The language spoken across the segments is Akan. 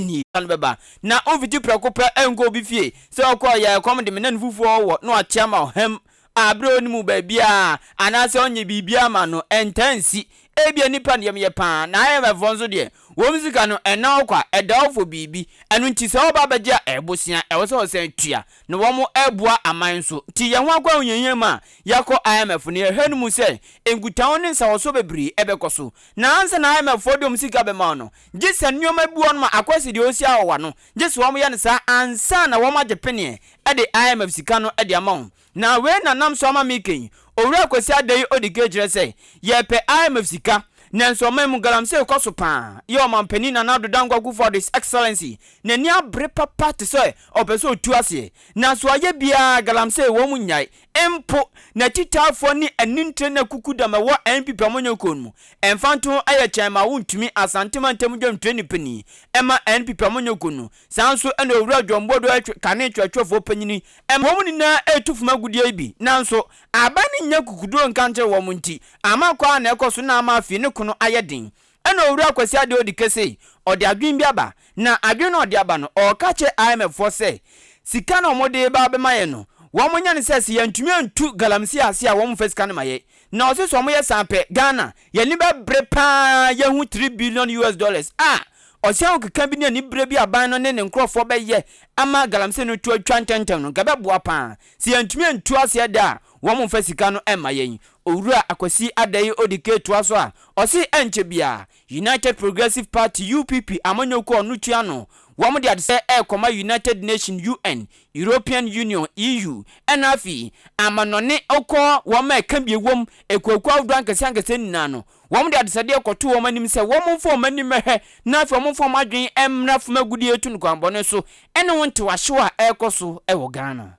nie. Sane bɛba na ɔmfiti prɛko pɛ nkɔ obi fie, sɛ ɔkɔ a ɔyɛ a ɛkɔm de me na no fufuo ɔwɔ na wakyea ma ɔham a berɛ a ɔnni mu baabiara anaasɛ ɔnyɛ biribiara mma no, ɛntaa nsi. Ebia nnipa no yam yɛ pa ara, na IMF foɔ nso deɛ, wɔn sika no ɛnna hɔ kwa, ɛda hɔ for biribi. Ɛno nti sɛ wɔba abɛgye a ɛbosea ɛwɔ sɛ wɔsan tua, na wɔn ɛboa aman nso. Nti yɛn ho akɔ ahohiahia mu a, yɛakɔ IMF no yɛhwɛ no mu sɛ nkutaho ne nsawɔsoɔ bebree ɛbɛkɔ so. Na ansa na IMF foɔ de wɔn sika bɛma wo no, Gye sɛ nnoɔma bi wɔnom a akɔsi deɛ ɔsi awɔwa no, gye sɛ wɔn yɛ no saa ansa na wɔn agye peneɛ ɛde IMF sika no ɛde ama wɔn. Na wei na nam so ama me kɛn, Owura Kwasi Adei ɔdi kɛn kyerɛ sɛ yɛpɛ IMF sika, nanso ɔman mu galamsey kɔ so paa, yɛ ɔman panin Nana Addo Dankwa Akufo Addo His Excellency n'ani abere papa te sɛ ɔpɛ sɛ ɔtu aseɛ, nanso wayɛ biara galamsey wɔn nyae, Mpo n'atitaafoɔ ne anintire ne akukudam a ɛwɔ NPP amanyɔkuo no mu mfantoho ayɛ kyɛn ma wontumi Asante mantam dwamtrani panin ma NPP amanyɔkuo no saa nso na Owura John Bodoa twe kane kyerɛkyerɛfoɔ panyin ma wɔn nyinaa retu fam agudeɛ yi bi nanso aban no nnya kukuduro nka nkyerɛ wɔn nti ama kwa na ɛkɔ so na ama afei ne kono ayɛ den Ɛna Owura Kwasi Adeɛ Odike sei ɔde adwene bi aba, na adwene no a ɔde aba no, ɔreka kyerɛ IMF foɔ sɛ, sika no a wɔde reba abɛma yɛn no, wɔnyɛ no sɛ, sɛ yɛantumi antu galamsey ase a wɔmfa sika no ma yɛn. Na ɔse sɛ wɔyɛ saa pɛ, Ghana, yɛn ani bɛbre pa ara yɛahu three billion US dollars a ɔse ahokeka bi ne anibere bi a aban no ne ne nkorɔfoɔ bɛyɛ ama galamsey no to atwa ntɛmntɛm no, nka ɛbɛboa pa ara. Sɛ yɛantumi antu aseɛ da a, Wɔn mfa sika no mma yɛn. Owura Akwasi Adei Odike toa so a, ɔse ɛnkyɛ biara United Progressive Party, UPP, amanyɔkuo a ɔno tua ano, wɔn de adesɛɛ ɛrekɔma United Nation, UN, European Union, EU, ɛna afei amanɔne ɔkɔ wɔn a ɛka bi wɔ mu akuokuo ahodoɔ ankɛseɛ ankɛseɛ nyinaa no, wɔn de adesɛdeɛ kɔto wɔn anim sɛ wɔn mfa wɔn ani mmɛhwɛ na afei wɔn mfa wɔn adwene mmra fam agudeɛtu no kwanbɔne so ɛne ho ntewahyew a ɛrekɔ so wɔ Ghana.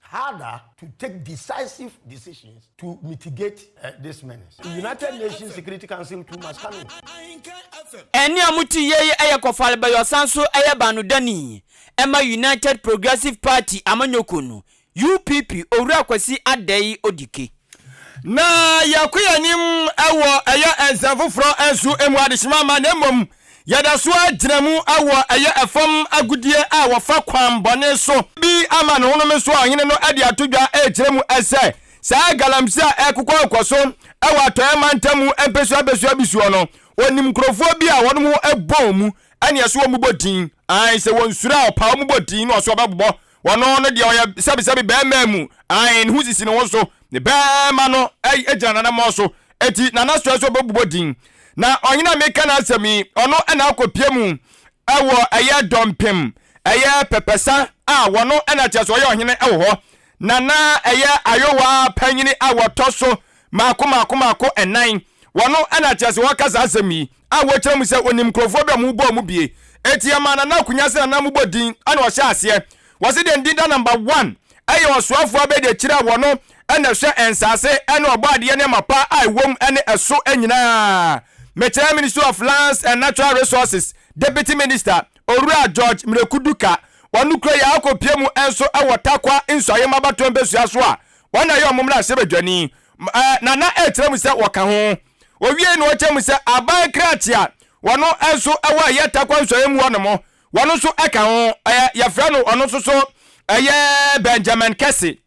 harder to take decisive decisions to mitigate this menace. United Nations Security Council to Mascano. Ɛnne a mote yei yɛ Kofal Bayɔsan so yɛ baanodani ma United Progressive Party amanyɔkuo no, UPP, Owura Kwasi Adei Odike. Na yɛkɔ yɛn anim wɔ ɛyɛ nsɛm foforɔ nso mu adehyema mma na mmom Yɛda so ara gyina mu wɔ ɛyɛ fam agodie a wɔfa kwan bɔne so. Bi ama ne honom nso a ɔhene no de ato dwa rekyerɛ mu sɛ saa galamsey a ɛrekokɔ rekɔ so wɔ Atɔeɛ mantam mu mpesua mpesua bi soɔ no, ɔnim nkurɔfoɔ bi a wɔnom ho bɔ wɔn mu ɛne ɛso wɔn bɔ din. Aane, sɛ wɔnsuro a ɔpaa wɔn bɔ din na ɔso ɔbɛbobɔ Wɔno ne deɛ ɔyɛ sɛbesɛbe bɛɛmaa mu, ae, ne ho sisi ne ho so, ne bɛɛma no gyina n'anammɔn so, enti n'anasoɛ so bɛbobɔ din. Na ɔhene a meka n'asɛm yi, ɔno na akɔpia mu wɔ ɛyɛ dɔmpem, ɛyɛ pɛpɛsa a wɔno na kyerɛ sɛ ɔyɛ ɔhene wɔ hɔ, na na ɛyɛ ayowa panyini a wɔtɔ so mmaako mmaako mmaako nnan. Wɔn na kyerɛ sɛ wɔka saa asɛm yi a wɔkyerɛ mu sɛ wɔnim nkurɔfoɔ bi a wɔbɔ wɔn bie. Enti yɛmaa Nana Akunya sɛ Nana mmobɔ din na ɔhyɛɛ aseɛ. Wɔse deɛ ne din da number one yɛ ɔsoafoɔ abɛdiakyire a wɔn na ɛhwɛ nsaase ne ɔbɔ adeɛ nneɛma pa a ɛwɔ mu ne ɛso nyinaa. Mekyerɛ Ministry of Lands and Natural Resources Deputy Minister Owura George Miraku Duka, wɔn kura yi a akɔpie mu nso wɔ Tarkwa Nsuaeɛm abatoɔ mpɛsua so a Wɔn na ɛyɛ wɔn mmarahyɛbadwani ma na na ɛtra mu sɛ wɔka ho. Owiei no ɔkyerɛ mu sɛ aban krakye a wɔno nso wɔ ɛyɛ Tarkwa nsɔeɛ mu hɔ nom, wɔno nso ka ho, ɛyɛ yɛfrɛ no ɔno nso so ɛyɛ Benjamin Kɛse.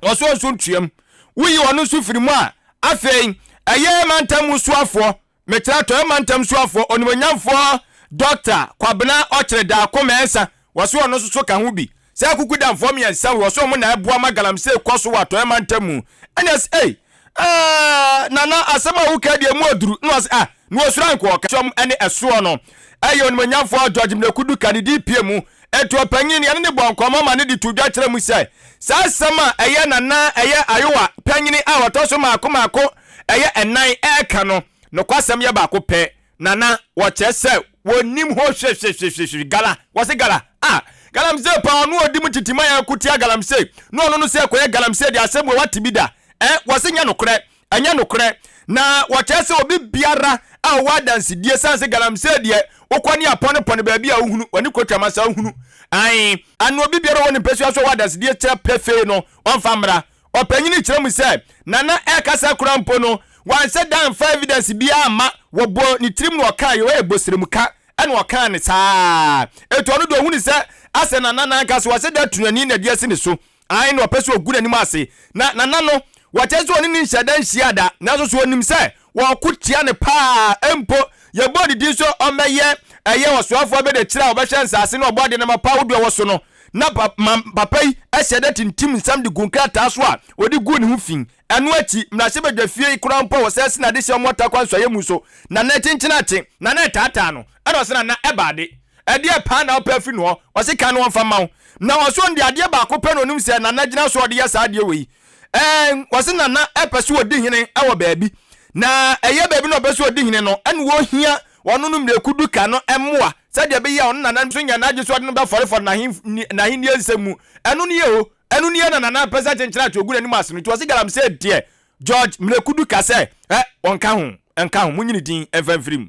Ɔsoɔ nso ntuam. Woyi ɔno nso firi mu a, afei ɛyɛ mantam mu soafoɔ Metra Atɔeɛ Mantam Suafoɔ Onimuonyamfoɔ Dɔkta Kwabena Ɔkyere Daako Mensah, wɔse ɔno nso so ka ho bi. Saa akukudamfoɔ mmiɛnsa wei, wɔse wɔn na ɛboa ma galamsey kɔ so wɔ Atɔeɛ Mantam mu. Ɛne ɔse ei, aah, Nana asɛm a wokaa deɛ emu aduru, na ɔse ah, na wɔsuro anko ɔka. Sɔm ne ɛsoɔ no, ɛyɛ Onimuonyamfoɔ George Mleku Duka ne dii pie mu. Ntoɔ panyin, yɛne no bɔɔ nkɔmmɔ ma no de too dwa kyerɛɛ mu sɛ, saa asɛm a ɛyɛ Nana ɛyɛ Ayowa panyini a ɔtɔ so mmaako mmaako, ɛyɛ ɛnan reka no, nokwasɛm yɛ baako pɛ, na na wɔkyerɛ sɛ wɔnnim ho hwehwehwehwehwe. Gala, wɔse gala, ah, galamsey paa, ɔno a ɔdi mu tete ma yɛko tia galamsey, na ɔno no sɛ kɔyɛ galamsey deɛ asɛm wei wate bi da? Ɛ, wɔse nyɛ nokorɛ, ɛnyɛ nokorɛ, na wɔkyerɛ sɛ obi biara a ɔwɔ adansedie sane sɛ galamsey deɛ wokɔ ne apɔnepɔne baabi a wohunu, wɔne kuro twam asa wohunu, ae, anaa obi biara a ɔwɔ ne mpasua so a ɔwɔ adansedie kyerɛ pefee no, ɔmfa mmra. Ɔpanyin no kyerɛ mu sɛ, Nana ɛrekasa koraa mpo no, wanhyɛ da amfa evidence biara amma. Wɔbɔɔ ne tirim na ɔkaa yɛ ɔyɛ bosremka na ɔkaa no saa ara. Enti ɔno deɛ ɔhunu sɛ asɛ Nana no ankasa wahyɛ da atu n'ani na de asi ne so. Ae na ɔpɛ sɛ ɔgu n'anim ase. Na Nana no, wɔkyerɛ sɛ ɔne no nhyɛɛ da nhyiaa da, nanso so ɔnim sɛ Wɔko tia no paa mpo. Yɛbɔɔ ne din sɛ ɔmmɛyɛ ɛyɛ ɔsoafoɔ abɛdakyire a ɔbɛhwɛ nsaase ne ɔbɔadeɛ nneɛma pa ahodoɔ a ɛwɔ so no. Na ma papa yi hyɛ da tintim nsɛm de gu nkrataa so a ɔde guu ne ho fi. Ɛno akyi, mmarahyɛbadwafie yi koraa mpo a wɔsan si no ade hyɛ wɔn atakwa nsɔeɛ mu nso, na na ɛkyenkyene ate. Na na ɛtaataa no. Ɛna ɔse na na ɛba ade. Ɛdeɛ paa na wopɛ afiri ne hɔ? Ɔse kan no ɔmfa mma wo. Na ɔse ɔno deɛ adeɛ baako pɛ na ɔnim sɛ Nana gyina so a ɔde yɛ saa adeɛ wei. Ɛɛn, wɔse Nana pɛ sɛ ɔdi hene wɔ baabi, na ɛyɛ baabi na ɔpɛ sɛ ɔdi hene no, ɛne wɔhia ɔno no mmirekuduka no mmoa sɛdeɛ ɛbɛyɛ a ɔno Nana nso nya n'adwene sɛ ɔde no bɛfɔrefɔre n'ahenni n'ahennie nsɛm mu. Ɛno nie o, ɛno nie na Nana pɛ sɛ kyenkyene ato ɔgu n'anim ase no, nti ɔse Galamsey deɛ George mmirekuduka sɛ, Ɛ, ɔnka ho, ɛnka ho, monyi ne din mfa mfiri mu.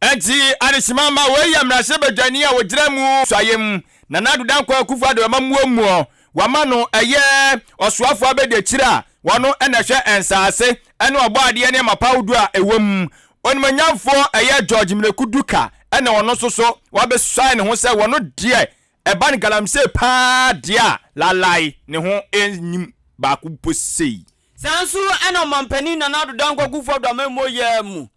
Enti adesima mma wei yɛ mmarahyɛbadwani a ɔgyina mu suayɛ mu, Nana Addo Dankwa Akufo Addo Amammuomuo, wɔama no ɛyɛ Ɔsoafoɔ Abadiakyire a ɔno na ɛhwɛ nsaase ne ɔbɔadeɛ ne amapa ahodoɔ a ɛwɔ mu. Onimonyamfoɔ ɛyɛ George Miraku Duka na ɔno nso so wabɛsuae ne ho sɛ wɔno deɛ ɛba no galamsee paa deɛ a lalae ne ho nnim baako mpo sei. Saa nso na Ɔmanpanin Nana Addo Dankwa Kufuor Addo Amammuo yɛɛ mu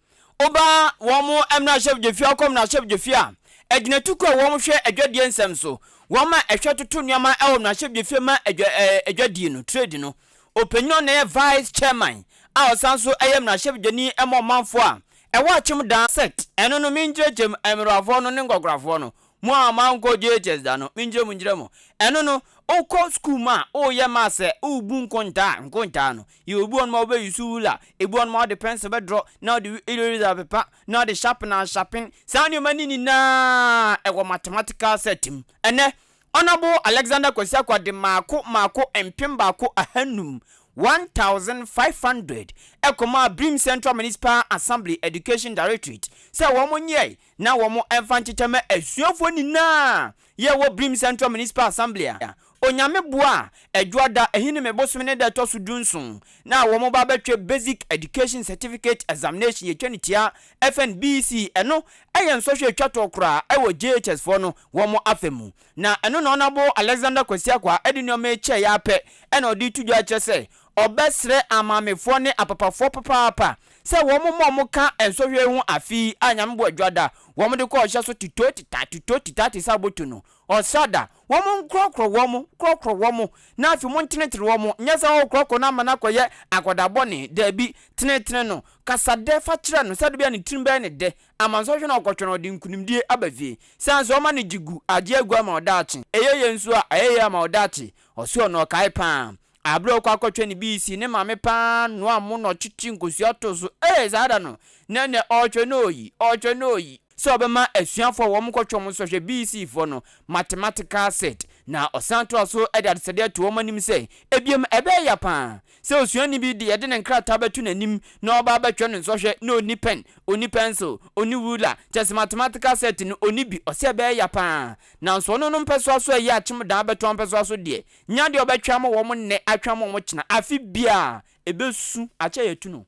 oba wɔn mmarahyɛbdwafie akɔ mmarahyɛbdwafie a agyinatukuo a wɔn hwɛ adwadie nsɛm so wɔn a ɛhwɛ toto nneɛma wɔ mmarahyɛbdwafie ma adwa adwadie no, trade, no ɔpanyin a ɔno na ɛyɛ vice chairman a ɔsan nso ɛyɛ mmarahyɛbdwani ma ɔmanfoɔ a ɛwɔ akyem da, sect, ɛno no me nkyerɛkyerɛm, mmerafoɔ no ne nkɔkorafoɔ no. Mo a moankɔ JHS da no, menkyerɛ mo nkyerɛ mo. Ɛno no, wokɔ sukuu mu a, woyɛ maths sɛ worebu nkontaa, nkontaa no, yɛwɔ bi wɔ hɔnom a wobɛ use ruler, ebi wɔ hɔnom a wode pencil bɛdrɔ, na wode eraser apepa, na wode sharpener asharpen, saa nneɛma no nyinaa ɛwɔ mathematical set mu. Ɛnnɛ, Honourable Alexander Kwasi Akwah de mmaako mmaako mpem baako ahanum, 1,500, ɛkɔmaa Birim Central Municipal Assembly Education Directorate sɛ wɔnyɛe, na wɔmfa nkyekyɛ mma asuafoɔ nyina ara a yɛwɔ Brim Central Municipal Assembly a Onyame boa a Adwoada Ahinime bosome no da ɛtɔ so du nson no a wɔba bɛtwe Basic Education Certificate Examination yɛtwa no tia fn BEC ɛno yɛ nsɔhwɛ a ɛtwa toɔ koraa wɔ JHS foɔ no wɔn afa mu na ɛno na Honourable Alexander Kwasi Akwaa de nnoɔma yi kyɛeɛ ara pɛ na ɔde reto dwa kyerɛ sɛ Ɔbɛsrɛ amaamefoɔ ne apapafoɔ papaapa sɛ wɔn mmɔ wɔn ka nsɔhwɛ yi ho afe yi a Nyame boɔ dwa da wɔn de kɔ ɔhyɛ so titoo tita titoo tita te sɛ aboto no ɔsra da wɔn nkorɔkorɔ wɔn korɔkorɔ wɔn na afei mo ntenetene wɔn nyɛ sɛ oh korɔkorɔ no ama no akɔyɛ akwadaa bɔne daabi tenetene no kasa dɛ fa kyerɛ no sɛdeɛ bɛyɛ ne tirim bɛyɛ ne dɛ ama nsɔhwɛ no ɔkɔtwɛn ɔde nkunimdie aba fie sane sɛ ɔma no gye gu agye agu ama wo daakye ɛyɛ yɛ nso a ɛyɛ yɛ ama wo daakye ɔsɛ ɔno ɔkae paa Aber a ɔkɔ akɔtwɛn ne bii si ne maame paa noa mo na ɔkyekye nkosua too so ee saa da no na nɛ ɔɔtwɛn no oyi ɔɔtwɛn no oyi. Sɛ ɔbɛma asuafo a wɔkɔ twɔn nsɔhwɛ bii sii foɔ no mathematical set na ɔsan toa so de adesade ato wɔn anim sɛ ebiom ɛbɛyɛ ya paa sɛ osuani bi de yɛde ne nkrataa bɛto n'anim na ɔba abɛtwɛn no nsɔhwɛ na ɔnni pɛn ɔnni pencil ɔnni ruler kyɛse mathematical set no ɔnni bi ɔsɛ ɛbɛyɛ ya paa nanso ɔno no mpɛsoa so ɛyɛ akyem dan abɛto ɔmpɛsoa so deɛ Nya deɛ ɔbɛtwa mo wɔn nnɛ atwa mo wɔn kyena afe biaa ɛbɛsu akyɛ yɛatu no.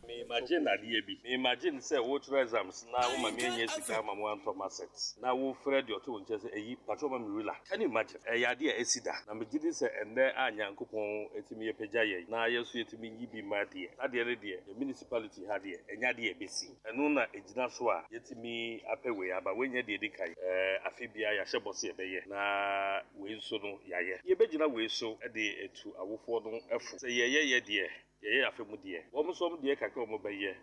Me imagine adeɛ bi, me imagine sɛ wo kyerɛ exams na wo ma me annya sika ama mo antɔ ma set na wo frɛ deɛ ɔte wo nkyɛn sɛ ayi pakyɛ ma me rula can you imagine ɛyɛ adeɛ a asi da na me gyedi sɛ ɛnnɛ a Nyankopɔn atumi apagya yɛn na yɛn nso yɛtumi yi bi ma deɛ na deɛ no deɛ yɛn municipality ha deɛ ɛnyɛ adeɛ a ɛbɛsi. Ɛno na ɛgyina so a yɛatumi apɛ wei aba. Wei nyɛ deɛ ɛdi kan. Afe biara yɛahyɛ bɔ sɛ yɛbɛyɛ, na wei nso no yɛayɛ. Yɛbɛgyina wei so de atu awofoɔ no fo sɛ yɛyɛ yɛ deɛ, yɛyɛ afe mu deɛ. Wɔn nso wɔn deɛ kakra a wɔbɛyɛ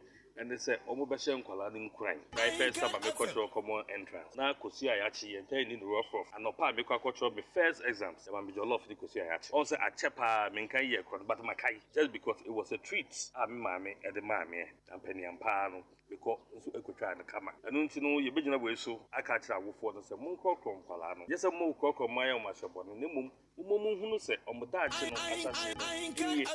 ne sɛ wɔbɛhyɛ nkwadaa no nkuran. My first summer mekɔtwerɛ common entrance na Kwasi Ayakye yɛ mpɛn nni no rough-rough. Anɔpa a mekɔ akɔtwerɛ me first exams yɛma me jollof ne Kwasi Ayakye. Ɔhu sɛ akyɛ paa menkan yɛɛ korɔ no but makae just because it was a treat a me maame de maa meɛ. Ampa-ne-ampa ara no, mekɔ nso kɔtwaa no kama. Ɛno nti no, yɛbɛgyina wei so aka akyerɛ awofoɔ no sɛ, Monkorɔkorɔ nkwadaa no. Ɛnyɛ sɛ mokorɔkorɔ mma wɔayɛ wɔn ahyɛ bɔne, na mmom mommɔ mu nhunu sɛ wɔn daakye no ahyɛaseɛ no nie.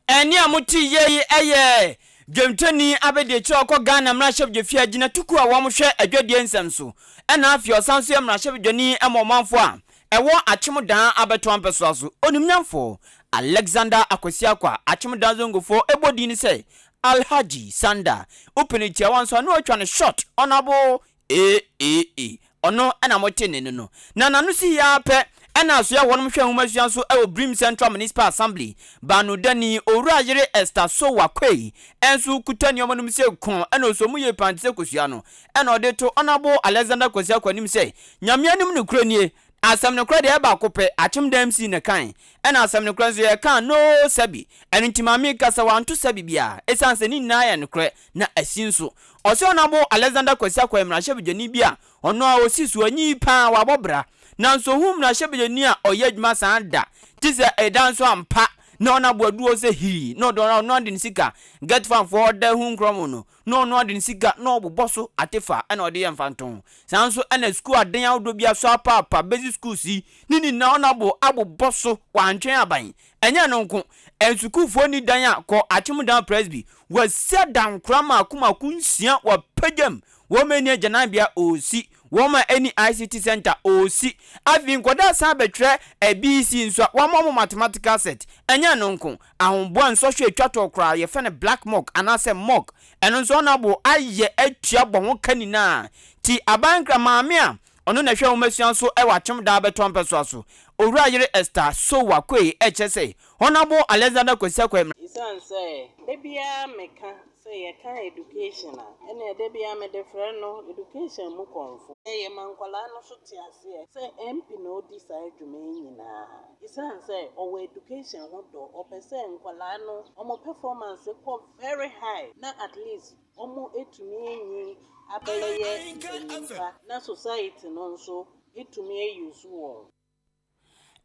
Ɛnne a moteeɛ yi yɛ dwamtoni abɛdiakyire a ɔkɔ Ghana mmarahyɛbdwafie agyinatukuo a wɔhwɛ adwadie nsɛm so na afei ɔsan nso yɛ mmarahyɛbdwani ma ɔmanfoɔ a Ɛwɔ Akyemmodaa abɛtoa mpɛsoa so, onimnyamfo Alexander Akwasi Akwa, Akyemmodaa Zongofo, bɔ din sɛ Alhaji Sanda. Wopɛ no tiawa nso a na wɔatwa no short, Honourable AAA. Ɔno na mote nne no no. Na n'ano si hia ara pɛ na asoɛ hɔ nom hwɛ nwomasua nso wɔ Brim Central Municipal Assembly. Baanodani, Owura Yere Esther Sowa Quaye nso kuta nneɛma nom sɛ kɔn na ɔsɔ mu yie paa te sɛ kosua no. Ɛna ɔde to Honourable Alexander Kwasi Akwanim sɛ, Nyame anim nokorɛ nie, asɛm nokorɛ deɛ ɛyɛ baako pɛ, akyem da MC na ɛkae, ɛna asɛm nokorɛ nso yɛkaa no sɛbi, ɛno nti ma meka sɛ wanto sɛbi biara, ɛsiane sɛ ne nyinaa yɛ nokorɛ, na asi nso. Ɔse Honourable Alexander Kwasi Akwa yɛ mmarahyɛbadwani bi a ɔno ara ɔsi so, ɔnye yi paa, wabɔ bra, nanso ɔhuu mmarahyɛbadwani a ɔyɛ adwuma saa da, gye sɛ ɛda nso ampa na Honourable adu hɔ sɛ hirii na ɔde ɔno ara ɔno ara de ne sika, get fam foɔ hɔ da hu nkorɔmo no, na ɔno ade no sika na ɔbobɔ so atefa na ɔde yɛ mfantoo. Saa ara nso na sukuu aden ahodoɔ bi aso apaapa basic schools yi ne nyinaa ɔno abo abobɔ so wantwɛn aban. Ɛnyɛ ɛno nko, nsukuufoɔ nni dan a kɔ Akyemudam Presby, wɔasi adankora mmaako mmaako nsia wɔ Apegyam, wɔn ani agyananbea ɔresi, wɔn ani ICT centre ɔresi, afei nkwadaa san bɛtwerɛ ABC nso a wɔama wɔn mathematical set. Ɛnyɛ ɛno nko, Ahoboa nsɔhwɛ a etwa tɔɔ koraa, yɛfrɛ no black mock anaasɛ mock, ɛno nso ɔno abo ayɛ atua bɔ ho ka nyinaa. Ti Abankra, maame a ɔno na ɛhwɛ nwomasua so wɔ Akyem Daa bɛtɔ mpɛsoa so, Owura Yere Esther Sowa Quay rekyerɛ sɛ, Honabo Alexander Kwesi Akwai Mmra. Esiane sɛ da biara meka sɛ yɛka education a, ɛnneɛ da biara mede frɛ no education mu kɔmfo. Yɛma nkwadaa no nso te aseɛ sɛ MP na ɔdi saa dwuma yi nyinaa. Esiane sɛ ɔwɔ education ho dɔ, ɔpɛ sɛ nkwadaa no wɔn performance kɔ very high na at least wɔatumi anyin abɛyɛ mpanyinpa na society no nso atumi a use wɔn.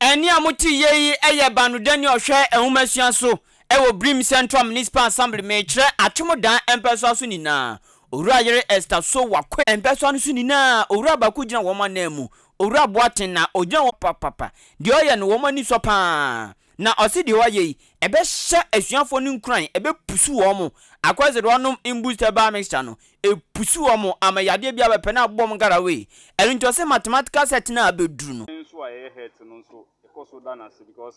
Ɛnne a mote yɛ yi yɛ Banodani ɔhwɛ nhomasua so wɔ Brim Central Municipal Assembly. Mekyerɛ Atwemodan mpɛsoa so nyinaa. Owura yere Esther Sow Wakoe. Mpɛsoa no so nyinaa, owura baako gyina wɔn ananmu. Owura Boateng na ogyina hɔ papapapa. Deɛ ɔyɛ no, wɔn ani sɔ pa ara. Na ɔse deɛ wayɛ yi, ɛbɛhyɛ asuafoɔ no nkuran, ɛbɛpusu wɔn. Akwa se deɛ ɔnom Imboost Herbal Mixture no, ɛpusu wɔn ama yadeɛ biara bɛpɛ na abobɔ wɔn garawee. Ɛno nti ɔse mathematical set no a abɛduru no. nso a ɛyɛ het no nso yɛkɔ so da no ase because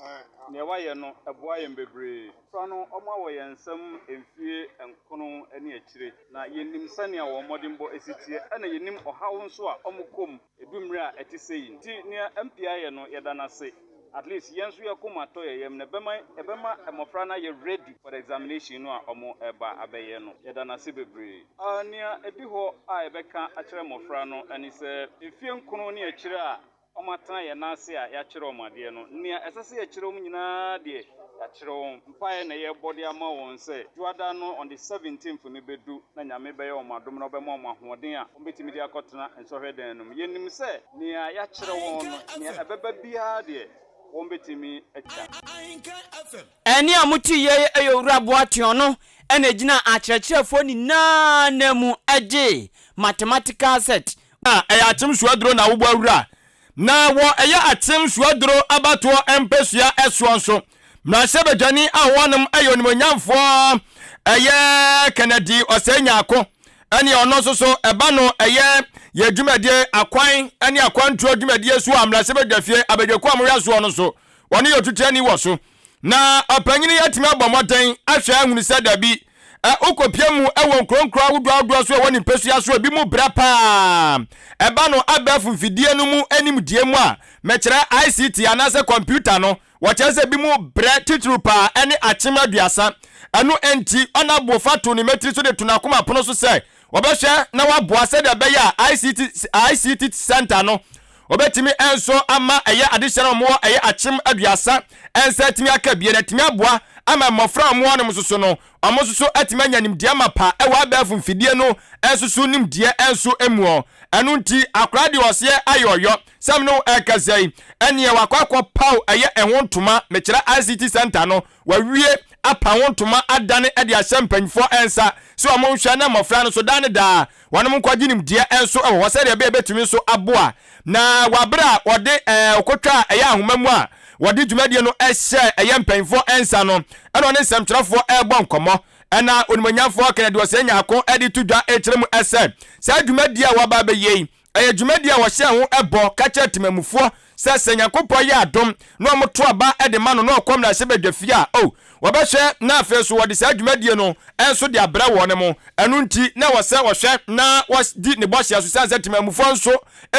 deɛ wayɛ no ɛboa yɛn bebree. Mmofra no wɔawɔ yɛn nsam mfie nkron ne akyire. Na yenim sɛnea wɔn mmɔdenbɔ si teɛ, na yenim ɔhaw nso a wɔkɔ mu du mmere a ɛte sɛɛ yi. Enti nea MP ayɛ no, yɛda no ase. At least yɛn nso yɛn koma tɔ yɛn yam, na ɛbɛma ɛbɛma mmofra no ayɛ ready for the examination no a wɔreba abɛyɛ no. Yɛda no ase bebree. A Nea edi hɔ a yɛbɛka akyerɛ mmofra no ne sɛ, mfe nkron ne akyiri a wɔatena yɛn nan ase a yɛakyerɛ wɔn adeɛ no, nea ɛsɛ sɛ yɛkyerɛ wɔn nyinaa deɛ, yɛakyerɛ wɔn. Mpaeɛ na yɛrebɔ de ama wɔn sɛ Dwoada no on the 17th no bɛdu na Nyame bɛyɛ wɔn adom na ɔbɛma wɔn ahoɔden a wɔbɛtumi de akɔtena nsɔhwɛ dan no mu. Yɛnim sɛ nea yɛakyerɛ wɔn no, nea ɛbɛba biara deɛ, wɔbɛtumi agya. Ahenkan FM. Ɛnne a mote yi ara yɛ Owura Boateɔn no na ɛgyinaa akyerɛkyerɛfoɔ nyinaa nan mu gyee Mathematical Set. Na ɛyɛ Akyem Suaduro na wobɔ awura. Na wɔ ɛyɛ Akyem Suaduro abatoɔ mpɛsua soɔ nso, mmarahyɛbadwani a ɔwɔ nom yɛ onimuonyamfoɔ ɛyɛ Kennedy Osei Nyarko ɛne ɔno nso so ɛba no ɛyɛ yɛ dwumadie akwan ɛne akwantuo dwumadie so a mmarahyɛbadwafie abadwakuo a mohwɛ soɔ no nso wɔne yɛ otutu ani wɔ so. Na ɔpanyin yi atumi abɔ mmɔden ahwɛ ahunu sɛ dabi, ɛ wokɔpia mu wɔ nkuronkuro ahodoɔ ahodoɔ so ɛwɔ ne mpɛsua so ebi mu brɛ paa ɛba no abɛɛfo mfidie no mu animdie mu a mekyerɛ ICT anaasɛ kɔmputa no wɔkyerɛ sɛ ebi mu brɛ titiriw paa ɛne akyem aduasa ɛno nti ɔna bofa to ne mɛtiri so de to n'akoma pono so sɛ wɔbɛhwɛ na waboa sɛdeɛ ɛbɛyɛ a ICT, ICT center no Wɔbɛtumi nso ama ɛyɛ adehyɛ no a wɔwɔ ɛyɛ akyem aduasa nsa atumi aka abien. Atumi aboa ama mmɔfra a wɔwɔ nom soso no, wɔn nso so atumi anya nimdeɛ mapa wɔ abɛɛfo mfidie no nso so nimdeɛ nso muɔ. Ɛno nti akwadaa deɛ ɔseɛ ayɛ ɔyɔ. Sɛ me ne wo ɛrekasa yi, ɛneɛ wakɔ akɔ paw ɛyɛ ɛho ntoma, mekyerɛ ICT centre no, Wawie apa ho ntoma adane de ahyɛ mpanimfoɔ nsa sɛ wɔn nhwɛ na mmɔfra no nso daa ne daa wɔn nkwagye nimdeɛ nso wɔ hɔ sɛdeɛ ɛbɛyɛ ɛbɛtumi nso aboa na wɔ aberɛ a wɔde ɛɛ ɔkotwa a ɛyɛ ahoma mu a wɔde dwumadie no hyɛ ɛyɛ mpanimfoɔ nsa no ɛna ɔne nsɛmtwerɛfoɔ ɛrebɔ nkɔmmɔ ɛna onimonyamfoɔ Kennedy Ɔsɛe Nyarko de to dwa ɛkyerɛ mu ɛsɛ saa dwumadie a wɔaba abɛyɛ yi ɛyɛ dwumadi a wɔhyɛɛ ho bɔ ka kyerɛɛ temamufoɔ sɛ sɛ Nyankopɔn yɛ adom na wɔto aba de ma no na ɔkɔm na ɛhye bɛdwa fie a, oh, wɔbɛhwɛ na afei nso wɔde saa dwumadie no nso de abrɛ wɔn mo. Ɛno nti na ɛwɔ sɛ wɔhwɛ na wɔdi ne bɔhyɛ so sane sɛ temamufoɔ nso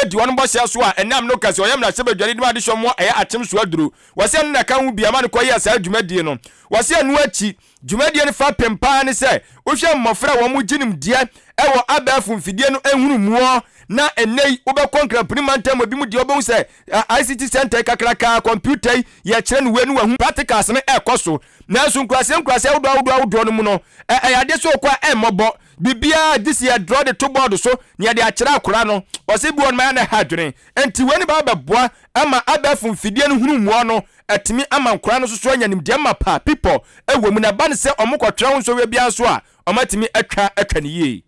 di wɔn bɔhyɛ so a ɛnam no ka sɛ ɔyɛ mmarahyɛbadwani de ma adehyɛ mu a ɛyɛ akyem so aduro. Wɔse ɛno na ɛka ho bi a ɛma no kɔyɛɛ saa dwumadie no. Wɔse ɛno akyi Dwumadie no fapem paa ne sɛ wohwɛ mmɔfra a wɔn gye nimdeɛ wɔ abɛɛfo mfidie no nhunumuɔ na ɛnnɛ yi wobɛkɔ Nkramponi mantam mu bi mu deɛ wobɛhu sɛ ICT centre yi kakrakaa kɔmputa yi yɛkyerɛ no wei no wahu practicals no ɛkɔ so nanso nkuraseɛ nkuraseɛ ahodoɔ ahodoɔ ahodoɔ no mu no ɛyɛ adeɛ sɛ wokɔ a ɛmmɔbɔ biribiara gye sɛ yɛdrɔ de to bɔɔdo so na yɛde akyerɛ akora no ɔsɛ bi wɔ no ma yɛ na ɛha adwene nti wei no bɛba bɛboa ama abɛɛfo mfidie no hunumuɔ no Ɛtumi ama nkwadaa no nso so anya nimdeɛ mapa a pipɔ wɔ mu na ɛba no sɛ wɔkɔtwera ho nsɔhwɛ biara nso a, wɔatumi atwa atwa no yie.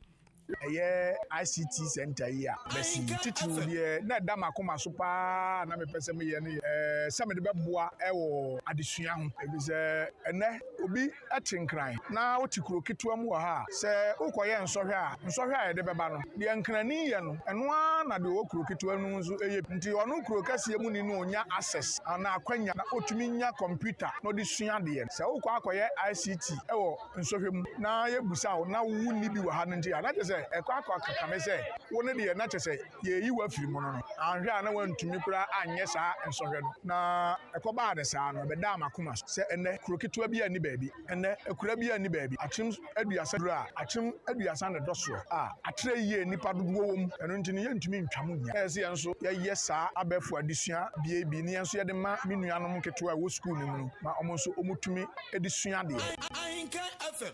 Ɛyɛ ICT Centre yi a masi yi titiriw deɛ na ɛda m'akoma so pa ara a na mepɛ sɛ meyɛ no yɛ sɛ mede bɛboa wɔ adesua ho, efisɛ ɛnnɛ obi te Nkran na ɔte kuro ketewa mu wɔ ha a, sɛ wokɔyɛ nsɔhwɛ a, nsɔhwɛ a yɛde bɛba no, deɛ Nkrani yɛ no, ɛno ara na deɛ ɔwɔ kuro ketewa no mu nso yɛ bi. Nti ɔno kuro kɛseɛ muni no ɔnya access anaa akwanya na ɔtumi nya kɔmputa na ɔde sua adeɛ. Sɛ wokɔ akɔyɛ ICT wɔ nsɔhwɛ mu na yɛbusa wo na wonni bi wɔ ha no nti a, na kyerɛ sɛ ɛkɔ akɔ kame sɛ wo no deɛ na kyerɛ sɛ Yɛreyi wo afiri mono no, anhwɛ a na woantumi koraa anyɛ saa nsɔhwɛ no. Na ɛkɔbaa no saa no, ɛbɛdaa m'akoma so sɛ ɛnnɛ kuro ketewa biara nni baabi, ɛnnɛ akuraa biara nni baabi, akyem aduasa duru a, akyem aduasa na ɛdɔ soɔ a, atrɛ yie a nnipa dodoɔ wɔ mu, ɛno nti no yɛntumi ntwa mu nnya. Ɛyɛ sɛ yɛn nso yɛyɛ saa abɛɛfo adesua bea bi, na yɛn nso yɛde ma me nuanom nketewa a ɛwɔ sukuu no mu no, ma wɔn nso wɔtumi de sua adeɛ. Ahenkan FM,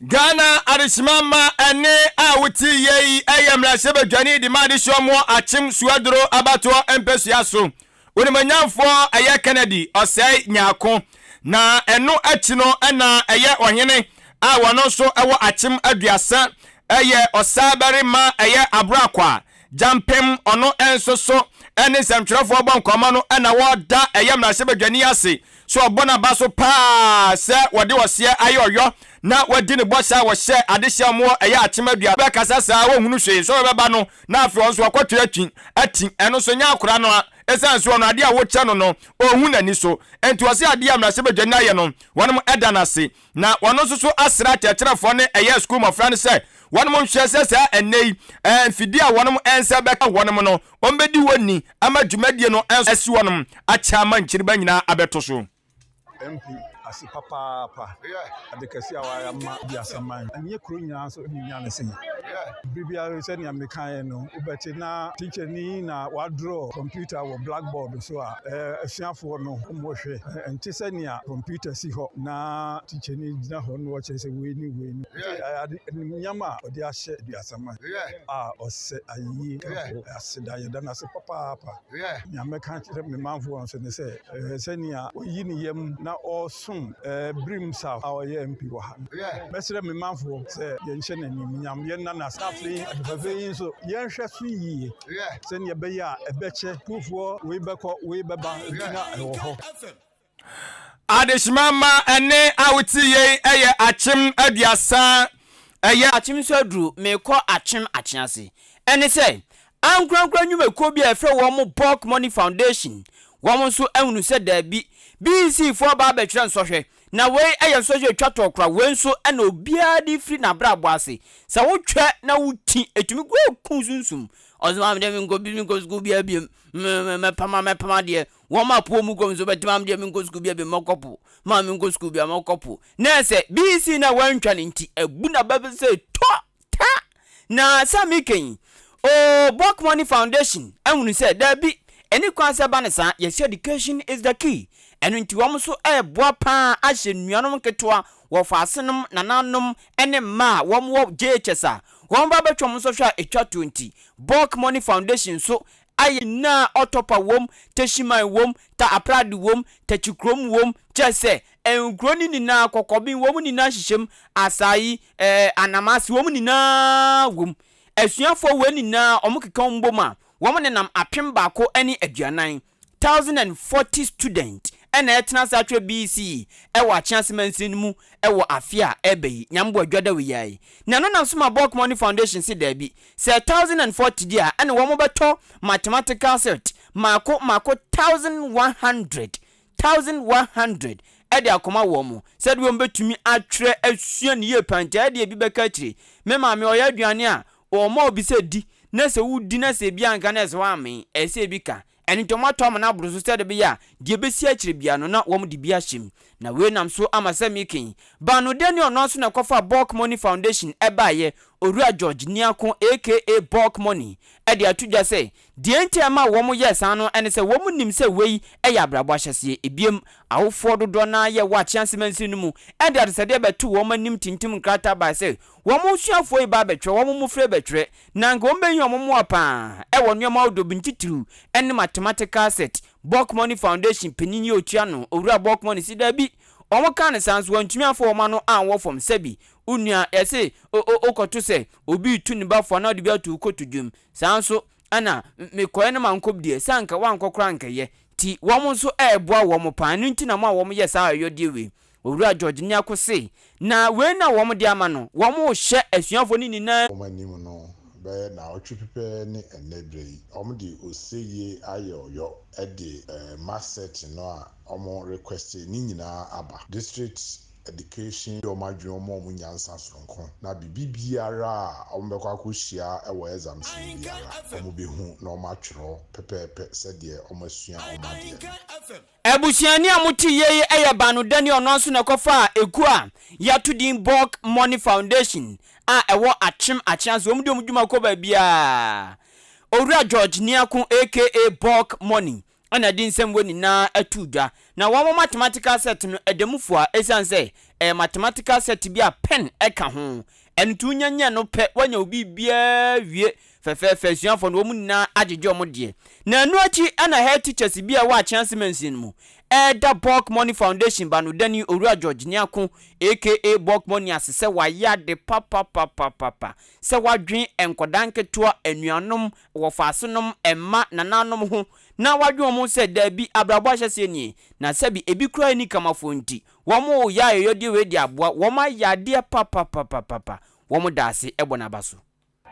Ghana Adesima Mma ɛne a wote yɛ yi yɛ mmarahyɛbadwani de ma Adehyeɛ Ɔmoɔ Akyem Suaduro Abatoɔ mpɛsua so Onimonyamfoɔ ɛyɛ Kennedy Ɔsɛe Nyarko na ɛno akyi no na ɛyɛ Ɔhene a wɔno nso wɔ Akyem Aduasa ɛyɛ Ɔsaa Barima ɛyɛ Abroakwa Gyampem, ɔno nso so ne nsɛmtwerɛfoɔ bɔ nkɔmmɔ no na wɔda ɛyɛ mmarahyɛbadwani ase sɛ ɔbɔ n'aba so pa ara sɛ wɔde ɔseɛ ayɛ ɔyɔ na wadi ne bɔhyɛ a wɔhyɛ adehyeɛ a wɔwɔ ɛyɛ Akyemmadua bɛkasa saa wɔnhunu hwee sɛ wɔbɛba no na afei ɔno nso wakɔtwe atwi ati ɛno nso nyɛ akora no a ɛsiane sɛ ɔno adeɛ a wokyɛ no no ɔnhu n'ani so enti ɔse adeɛ a mmarahyɛbadwani ayɛ no wɔnom da no ase Na wɔn nso so asra akyerɛkyerɛfoɔ ne ɛyɛ sukuu mmɔfra no sɛ wɔnom nhwɛ sɛ saa ɛnnɛ yi mfidie a wɔnom nsa bɛka wɔnom no, wɔbɛdi hɔ ni ama dwumadie no nso asi wɔnom akyɛ ama nkyiriba nyinaa abɛto so. MP ase papaapa ade kɛse a wayɛ ama Biasa man ɛnyɛ kuro nyinaa nso ne nya ne se bere biara sɛ nea mekaeɛ no wobɛte na teacher ni na wadrɔ computer wɔ blackboard so a asuafoɔ no wɔhwɛ Ɛnte sɛ nea kɔmputa si hɔ na tikyani gyina hɔ na ɔkyerɛ sɛ wei ne wei no. Ɛyɛ animuonyam a ɔde ahyɛ Aduasa Man a ɔsɛ ayeyie kafo aseda. Yɛda no ase papaapa. Nea mɛka akyerɛ me manfoɔ nso ne sɛ, ɛyɛ sɛ nea wayi ne yam na ɔresom Birim South a ɔyɛ MP wɔ ha no. Mɛsrɛ me manfoɔ sɛ yɛnhyɛ no animuonyam, yɛnna no ase, na afei ade fɛfɛ yi nso yɛnhwɛ so yie. sɛnea ɛbɛyɛ a ɛbɛkyɛ kurofoɔ wei bɛkɔ wei bɛba nti na ɛwɔ hɔ. Adehyema mma ɛnne a wote yei yɛ akyem aduasa. Ɛyɛ. Akyem so aduru merekɔ akyem akyease. Ɛne sɛ, ankorankora nnwumakuo bi a yɛfrɛ wɔn Bulk Money Foundation, wɔn nso ahunu sɛ daabi, BEC foɔ baa bɛtwerɛ nsɔhwɛ Na wei yɛ nsɔhwɛ a ɛtwa toɔ koraa, wei nso na obiara de firi n'abrabɔ ase, sɛ wotwa na wokyi, ɛtumi kura ku sunsum, ɔse maame deɛ menkɔ bi menkɔ sukuu biara biom, me mɛpam mɛpam adeɛ, wɔn a po mu kɔ nso bɛte maame deɛ menkɔ sukuu biara biom mɛkɔ po, maame menkɔ sukuu biara mɛkɔ po, na ɛsɛ BC no a wantwa no nti, abu n'aba sɛ tɔ! Ta! Na sɛ meka yi, oh, Book Money Foundation ahunu sɛ, dabi, ɛnni kwan sɛ ɛba no saa, yɛse education is the key, ɛno nti wɔn nso reboa pa ara ahyɛ nuanom nketewa, wɔfaasenom, nananom, ne mma a wɔwɔ JHS a wɔn ba bɛtwam nsɔhwɛ a ɛtwa toɔ nti, Book Money Foundation nso ayɛ nyinaa Ɔtɔpa wom, Teshiman wom, Ta Aprade wom, Tachikrom wom, kyerɛ sɛ, nkuro no nyinaa, Kɔkɔben wom nyinaa nhyehyɛm, Asayi, ɛɛ, Anamase wom nyinaa wom. Asuafoɔ wei nyinaa wɔkeka wɔn bom a, wɔnenam apem baako ne aduanan, thousand and forty students, na ɛretena saa twerɛ BC wɔ Akyease Mansini no mu wɔ afe a ɛreba yi, Nyame Boa Dwadawoyai. Na ɛno na nso ma Borkmann Foundation se daabi, Sɛ thousand and forty deɛ a, ɛne wɔn bɛtɔ mathematical set mmaako mmaako thousand one hundred, thousand one hundred, de akɔma wɔn sɛdeɛ wɔn bɛtumi atwerɛ asua no yie paa. Nti ɛdeɛ ebi bɛka akyire. Me maame ɔyɛ aduane a, ɔma obi sɛ di, na sɛ wodi na sɛ ebi anka na ɛsɛ sɛ woamee, ɛsɛ sɛ ebi ka. Ɛno nti wɔatɔ amena aboro so sɛdeɛ ɛbɛyɛ a deɛ ɛbɛsi akyire biara no na wɔde bi ahyɛ mu. Na wei nam so ama sɛ Mikin, Baanodɛ ne ɔno ara nso na ɛkɔfaa Bulk Money Foundation baeɛ, Owura George Niako aka Bulk Money de ato dwa sɛ deɛ nti a ɛmaa wɔyɛɛ saa no ne sɛ wɔn nim sɛ wei yɛ abrabɔ ahyɛseɛ. Ebiem, awofoɔ dodoɔ no ara yɛ wɔ Akyea Nsimansiri no mu de adesɛdeɛ bɛtoo wɔn anim tintim nkrataa baeɛ sɛ Wɔn suafoɔ yi ba abɛtwerɛ, wɔn mmofra rebɛtwerɛ, na anka wɔbɛhia wɔn mmoa pa ara wɔ nneɛma ahodoɔ bi, ntitiriw ne mathematical set. Borkmoney Foundation panin yi a ɔtua ano, Owura Borkmoney se daabi, wɔkaa no saa nso wɔantumi amfa wɔn ano anwɔ fam. Sɛbi, wo nua, yɛse o, o, wokɔto sɛ obi retu ne ba fo anaa ɔde bi ato wo koto dwam. Saa nso na mekɔeɛ na mankɔ bi deɛ, sɛ anka woankɔ koraa a anka ɛyɛ. Nti wɔn nso reboa wɔn pa ara, ɛno nti na wɔma wɔyɛ saa ayɔyɔdeɛ wei. Owura George Nyarko se, Na wei na wɔn de ama no, wɔn rehyɛ asuafoɔ no nyinaa. Wɔn anim no, bɛyɛ naawɔtwe pɛpɛɛ ne ɛnnɛ berɛ yi, wɔn de oseyie ayɔɔyɔ de mass searching no a wɔn request no nyinaa aba. District Education de wɔn adwene ma wɔn nyansa sononko, na biribi biara a wɔn bɛkɔ akɔhyia wɔ exams mu biara, wɔn bɛhu na wɔn atwerɛ pɛpɛɛpɛ sɛdeɛ wɔn asua wɔn adeɛ no. Abusuani a mote yie yi yɛ baanodani a ɔno ara nso na ɛkɔfaa ekuo a yɛato din Bulk Money Foundation a ɛwɔ Akyem Akyeaso. Wɔn deɛ wɔn dwuma kɔ baabiara. Owura George Niako aka Bulk Money na ɛde nsɛm wei nyinaa ato dwa. Na wɔn mathematical set no ɛda mu fua ɛsiane sɛ ɛyɛ mathematical set bi a pen ka ho. Ɛno nti wonya nya no pɛ, woanya wo biribiara wie Fɛfɛɛfɛ asuafoɔ no, wɔn nyinaa agyegye wɔn deɛ. Na ɛno akyi na Head Teachers bi a ɛwɔ Akyease Mansini no mu reda Bulk Money Foundation banodani Owura George Nyarko aka Bulk Money ase sɛ wayɛ ade papapapapapa sɛ wadwen nkwadaa nketewa, anuanom, wɔfaasenom, mma, nananom ho na wadwen wɔn ho sɛ daabi abrabɔ ahyɛseɛ nie na sɛbi ebi koraa nni kamafoɔ nti wɔn yɛ ayɔyɔdeɛ wei de aboa wɔn ayɛ adeɛ papapapapapa wɔn da ase bɔ n'aba so.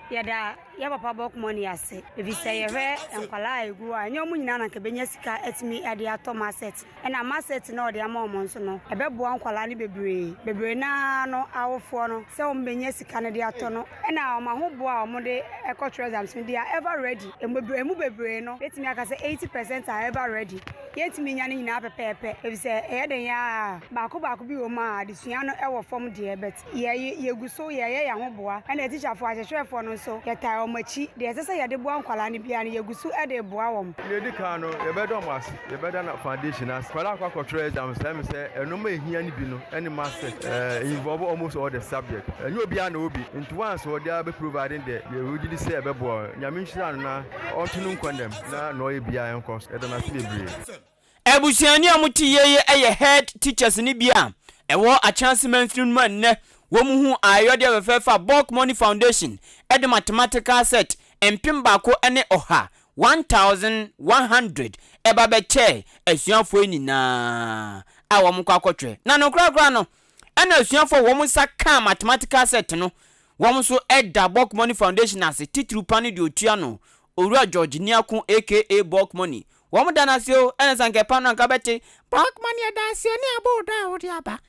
Yɛda yɛ papa bɔk mɔni ase efisɛ yɛhwɛ nkwadaa a egu hɔ a ɛnyɛ wɔn nyinaa na nka benya sika atumi ɛde atɔ masɛt ɛna masɛt na ɔde ama wɔn nso no ɛbɛboa nkwadaa no bebree bebree naa no awofoɔ no sɛ wɔn benya sika no de atɔ no ɛna wɔn ahoboɔ a wɔn de ɛkɔ trɛzams no deɛ ɛva rɛdi emu bebree no betumi aka sɛ eighty pɛsɛnt a ɛva rɛdi yɛntumi nya ne nyinaa pɛpɛɛpɛ efisɛ ɛyɛ den yaa baako baako bi wɔ mu a adesua no ɛwɔ fam deɛ bɛt yɛ yɛgu so yɛyɛ yɛn ho boa ɛna tikyafoɔ akyerɛkyerɛfoɔ no nso yɛtaa wɔn akyi deɛ ɛsɛ sɛ yɛde boa nkwadaa no biara no yɛgu so de boa wɔn. Deɛ ɛdi kan no yɛbɛda wɔn ase yɛbɛda na foundation no ase nkwadaa akɔ akɔtwerɛ exam sɛ ɛmi sɛ ɛnoma a ɛhia no bi no ɛne masters ɛɛ involve almost all the subject ɛnyɛ obiara na ɔwɔ bi nti once ɔde ara bɛ providing deɛ yɛ ɔgye di sɛ ɛbɛboa wɔn nyame nhyira no na ɔnto no nkwa nam na na ɔyɛ biara ɛnkɔ so yɛda no ase bebree. Abusuani a wɔte yiye yɛ Head Teachers no bi a ɛwɔ Akyɛase Mansini no mu a nnɛ wɔhuu ayɛyɔdeɛ fɛfɛɛfɛ a Bulk Money Foundation de mathematical set mpem baako ne ɔha, 1,100, ba bɛkyɛɛ asuafoɔ yi nyinaa a wɔkɔ akɔtwerɛ. Na nokorɛ koraa no, ɛna asuafoɔ a wɔn nsa kaa mathematical set no, wɔn nso da Bulk Money Foundation ase, titiriw pa no deɛ ɔtua no, Owura George Niako aka Bulk Money, Wɔn da no ase o, ɛne sɛ anka ɛpa no anka bɛte. Bɔg ma neɛ da ase o ne abɔ odɔ a wode aba.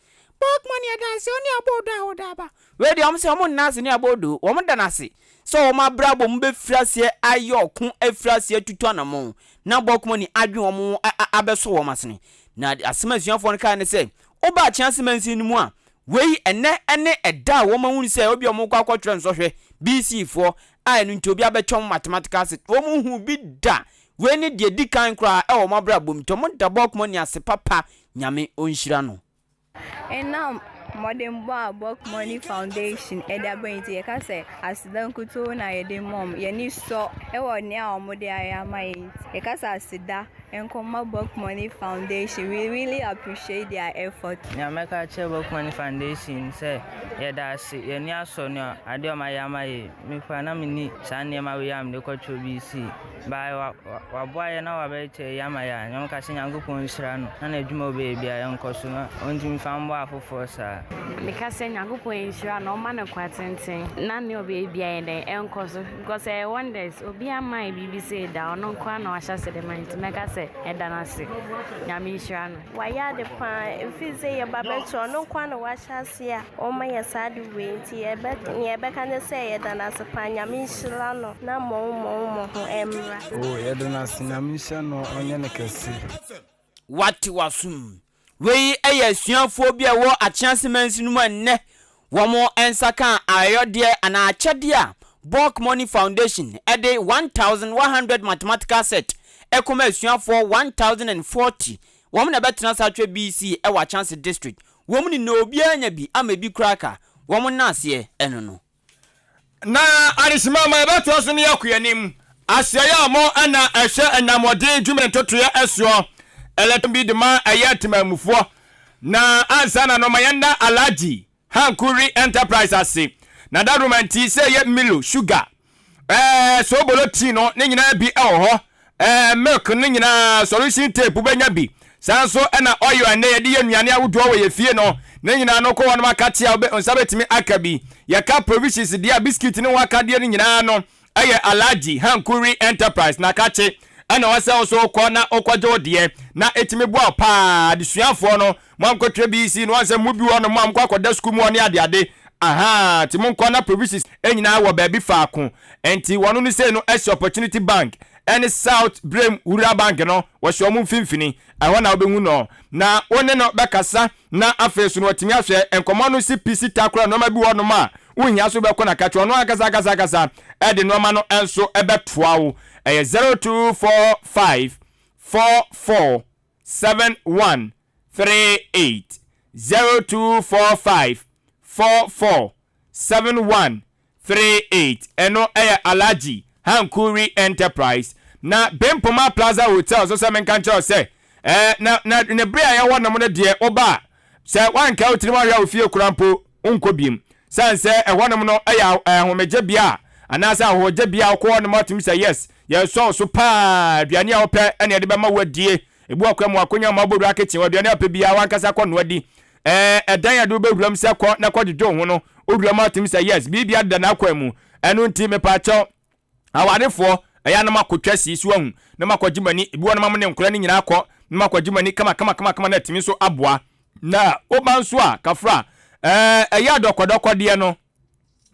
Bɔg ma neɛ da ase o ne abɔ odɔ a wode aba. Wei deɛ wɔn sɛ wɔn nna ase ne abɔ odɔ o, wɔn da no ase sɛ wɔn abrabɔ mu bɛfiri aseɛ ayɛ ɔko afiri aseɛ atutu anamɔn na Bɔg ma ni adwene wɔn ho abɛsɔ wɔn asene. Na deɛ asɛm a asuafoɔ no kaeɛ ne sɛ, woba akyea ase mansin no mu a, wei ɛnnɛ ne ɛda a wɔn ahunu sɛ ebia wɔn kɔ akɔtwerɛ nsɔhwɛ, BC foɔ, a ɛno nti obiara bɛtwɛn wɔn mathematical set, wɔn nhuu bi da Wei ne deɛ ɛdi kan koraa ɛwɔ mo abrabɔ mu tɔ mo dabɔ kmɔ ni ase papa nyame ɔnhyira no. Ɛnam mmɔdenbɔ a Bok Money Foundation de aba nti, yɛka sɛ aseda nkutoo na yɛde ma wɔn. Yɛn ani sɔ wɔ nea wɔde ayɛ ama yɛn nti, yɛka sɛ aseda nko mma Bok Money Foundation. We really appreciate their efforts. Nea mɛka akyerɛ Bok Money Foundation ne sɛ, yɛda ase. Yɛn ani asɔ nea adeɛ a wɔayɛ ama yɛn. Me koraa na menni saa nneɛma wei a mede kɔtwerɛ bi sei. By wa waboa yɛn na wabɛyɛ kyerɛ yɛn ama yɛn a yɛn kasa Nyankopɔn nhyira no na n'adwuma ɔbɛyɛ bia yɛn nkɔ so na ɔntumi fa mmoa afoforɔ saa. Meka sɛ Nyankopɔn nhyira no ɔma no kwa tenten na nea ɔbɛyɛ bia yɛ dɛn ɛnkɔ so because ɛyɛ wonders obia mma yɛ biribi sei da ɔno nkoa na wahyɛ ase de ma nti mɛka sɛ mɛda no ase Nyame nhyira no. Wayɛ ade paa ɛfiri sɛ yɛ ba bɛkyi ɔno nkoa na wahyɛ aseɛ a ɔma yɛ saa de wei nti yɛbɛ nea yɛbɛka ne sɛ yɛda no ase paa nyame nhyira no na mmɔwo mmɔwo mmɔ ho mmra. Oh yɛda no ase nyame nhyira no ɔnyɛ no kɛse. Wate w'asom. Wei yɛ asuafoɔ bi a ɛwɔ Akyea Semansi no mu a nnɛ Wɔn nsa kaa ayɔdeɛ anaa akyɛdeɛ a Bulk Money Foundation de one thousand one hundred mathematical set rekɔma asuafoɔ one thousand and forty wɔn na ɛbɛtena saa twerɛ BC wɔ Akyɛnse District wɔn nyinaa obiara anya bi ama ebi koraa ka wɔn nna aseɛ ɛno no Na adesima ma yɛbɛtoa so ne yɛn koyanim aseayɛ a mo ɛna ɛhyɛ ɛna mmɔden dwuma ntotoeɛ ɛsoɔ ɛlɛtɔn bi dema ɛyɛ temanmufoɔ na ansa na no ma yɛn da Alhaji Hanku Re Enterprise ase na dadoma nti sɛ ɛyɛ Milo sugar ɛɛ soobolo tea no ne nyinaa bi ɛwɔ hɔ Ɛɛ milk no nyinaa solution tape wobɛnya bi saa nso ɛna oil ɛnɛ yɛde yɛ nnuane ahodoɔ wɔ yɛ fie no ne nyinaa no kɔ hɔ nom aka tea wo nsa bɛtumi aka bi yɛka provisions deɛ a biscuit ne ho akadeɛ no nyinaa no ɛyɛ Alhaji Hankuri Enterprise na ka kye ɛna ɛwɔ sɛ wo nso wokɔ na wokɔgye wo deɛ na ɛtumi boa wo paa adesuafoɔ no Moankɔtwerɛ BEC no ansɛm mo bi wɔ hɔ nom a mokɔ akɔda sukuu mu hɔ ne ade ade ahaa nti monkɔ na provisis nyinaa wɔ baabi faako nti wɔn no sei no asi opportunity bank ɛne south brem rural bank no wɔsi wɔn mfimfini ɛhɔ na wobɛhu no na wo ne no bɛkasa na afei so no watumi ahwɛ nkɔmɔ no si pisi ta kora nnoɔma bi wɔ nom a wohia so bɛkɔ na ka kyerɛ ɔno ankasa ankasa ankasa ɛde nnoɔma no nso ɛbɛtoa wo ɛyɛ 0245 four four seven one three eight zero two four five four four seven one three eight ɛno ɛyɛ Alhaji Hankuri Enterprise na Bempoma Plaza Hotel so sɛ menka nkyerɛ wo sɛ ɛɛ na na ne bere a ɛyɛ hɔ nom no deɛ woba a sɛ wanka wo tirim ahwɛ a ofie kora mpo wonkɔ biem. Esiane sɛ ɛhɔnom no yɛ ahomegyebea anaasɛ ahɔhogyebea a wokɔ hɔ no ma wotumi sɛ, Yes, yɛsɔ wo so paa, aduane a wopɛ na yɛde bɛma wo adie. Ebu akoa mu akonya mma wobɔ wura kitchen hɔ, aduane a wopɛ biara w'ankasa kɔnoa di. Ɛɛ, ɛdan a yɛde wo bɛwura mu sɛ kɔ na kɔdwodwo wo ho no, wowura mu a wotumi sɛ, Yes, biribiara deda n'akwan mu. Ɛno nti, mepaakyɛw, Awarefoɔ, ɛyɛ a na makɔtwa sii so ahu, na makɔgye m'ani, bi hɔ na mamo ne nkora no nyinaa kɔ, na makɔgye m'ani kamakamakama na atumi nso aboa. Na woba nso a, kafra, ɛɛ, ɛyɛ a dɔkɔdɔkɔdeɛ no,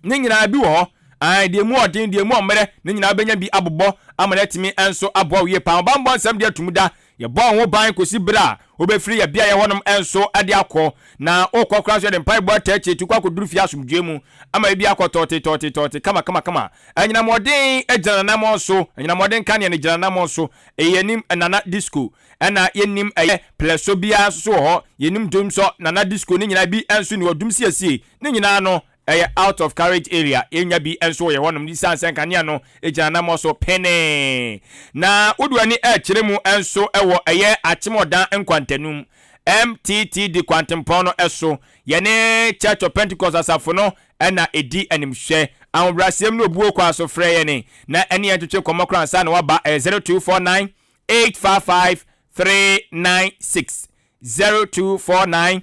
ne nyinaa bi wɔ hɔ, ae, deɛ mu ɔden, deɛ mu ɔmmerɛ, ne nyinaa wobɛnya bi abobɔ ama no atumi nso aboa wo yie paa. Ɔbammɔ nsɛm deɛ atum da, Yɛbɔ wo ho ban kɔsi berɛ a wobɛfiri yɛn beaeɛ hɔnom nso de akɔ, na wokɔ koraa nso yɛde mpaebɔ ataa akyire tu kɔ akɔduru fie asomdwoeɛ mu ama ebi akɔ tɔɔte tɔɔte tɔɔte kama kama kama. Anyinam mmɔden gyina n'anammɔn so, anyinam mmɔden kanea no gyina n'anammɔn so, ɛyɛ yɛn anim Nana Disco. Ɛna yɛnnim ɛyɛ plɛso biara nso so wɔ hɔ, yɛnnim dwom sɔ Nana Disco no nyinaa, ebi nso nni hɔ, dwom siesie, ne nyinaa no Ɛyɛ out of carriage area, yɛnnya bi nso wɔ yɛn hɔnom esiane sɛ nkanea no gyina anammɔn so penee. Na wode w'ani rekyerɛ mu nso wɔ ɛyɛ Akyemɔdan nkwantanum, MTT di kwantempɔn no so. Yɛne Church of Pentecost Asafo no na ɛdi animhwɛ. Ahobrɛaseɛm ne obuo kwan so frɛ yɛn na ɛne yɛn ntwetwe nkɔmmɔ koraa ansa na woaba, ɛyɛ 0249 855 396, 0249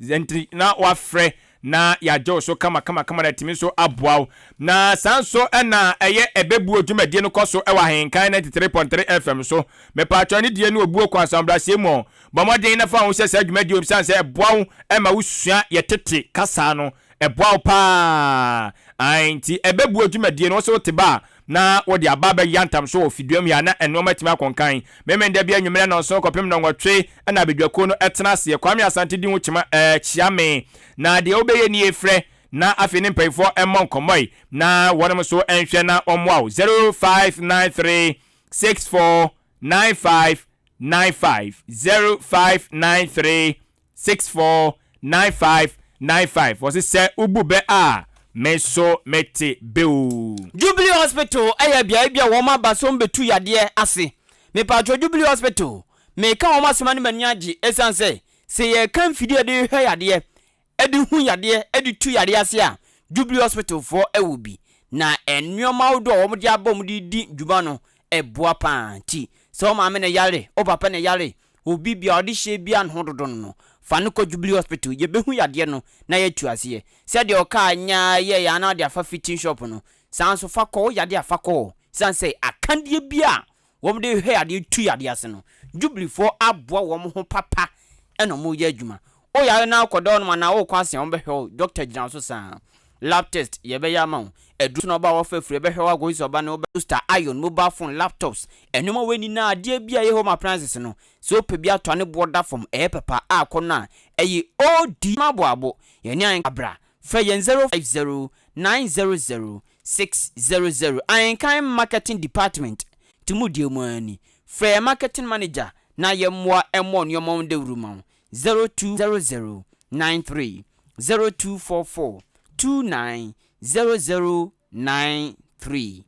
Dza ntsi na wɔafrɛ na yɛagye wo so kamakamakama na etumi so aboa wo. Na saa nso na ɛyɛ ɛbɛbuo dwumadie no kɔ so wɔ Ahenkan 93.3 FM so. Mepaatwɔ anidie ne obuo kɔ asamobraseɛ mu ɔ. Bɔ mmɔden na fa wo ho hyɛ saa dwumadie mu ɛsiane sɛ ɛboa wo ma wo sua yɛ tete kasa no. Ɛboa wo paa. Ae nti ɛbɛbuo dwumadie no wo se wo te ba a, na wɔde aba abɛyɛ atam so wɔ fiduam he a, na nnoɔma atumi akɔ nkan. Memenda bi anwummere nnɔnson kɔpem nnɔnwɔtwe na abadwakuo no tena aseɛ. Kwame Asante di ho kyima ɛɛ kyia me. Na deɛ wobɛyɛ nie, frɛ na afei ne mpayifoɔ mmɔ nkɔmmɔe na wɔnom nso nhwɛ na wɔmmoa wo. 0593 64 95 95 0593 Six four nine five nine five wɔse sɛ wobu bɛ a me nso me te bɛ oo. Jubilee hospital yɛ beaɛ bi a wɔn aba som bɛtu yadeɛ ase mepatwɔ jubilee hospital meka wɔn asɛm a ne m'ani agye ɛsiane sɛ sɛ yɛka mfidie a yɛde hwɛ yadeɛ ɛde hu yadeɛ ɛde tu yadeɛ ase a jubilee hospital foɔ ɛwɔ bi na nnoɔma ahodoɔ a wɔn de aba wɔn de di dwuma no ɛboa paa nti sɛ wo maame na ɛyare wo papa na ɛyare Obi bia ɔde hyɛ bia ne ho dodo no no fa no kɔ jubilee hospital yɛbɛhu yadeɛ no na yatu aseɛ sɛdeɛ ɔkaa nya yɛɛyɛ a na ɔde afa fitting shop no saa nso fa kɔ wo yadeɛ a fa kɔ hɔ ɛsiane sɛ akadeɛ bia a wɔn de hwɛ yadeɛ tu yadeɛ ase no jubilee foɔ aboa wɔn ho papa ɛna wɔn yɛ adwuma Wo yare no ara kɔ dɔɔ nom anaa wo rekɔ asɛn a wɔbɛhwɛ wo, dɔkta gyina wo so saa. Lab test, yɛbɛyɛ ama wo. Aduru so na ɔba a wɔfa afiri ɛbɛhwɛ wo akosi sɛ ɔba no wobɛ. Toaster, iron, mobile phone, laptops, nnoɔma wei nyinaa adeɛ biara ɛyɛ home appliances no sɛ wopɛ bi atɔ a ne boɔ da fam ɛyɛ papa a kɔ no a ɛyɛ OD ma bɔ abo yɛne ahenka bra frɛ yɛn 050 900 600 ahenka marketing department to mu deɛ mu ara ni frɛ yɛn marketing manager na yɛmmoa mmɔ nnoɔma ho dawuro ma wo zero two zero zero nine three zero two four four two nine zero zero nine three.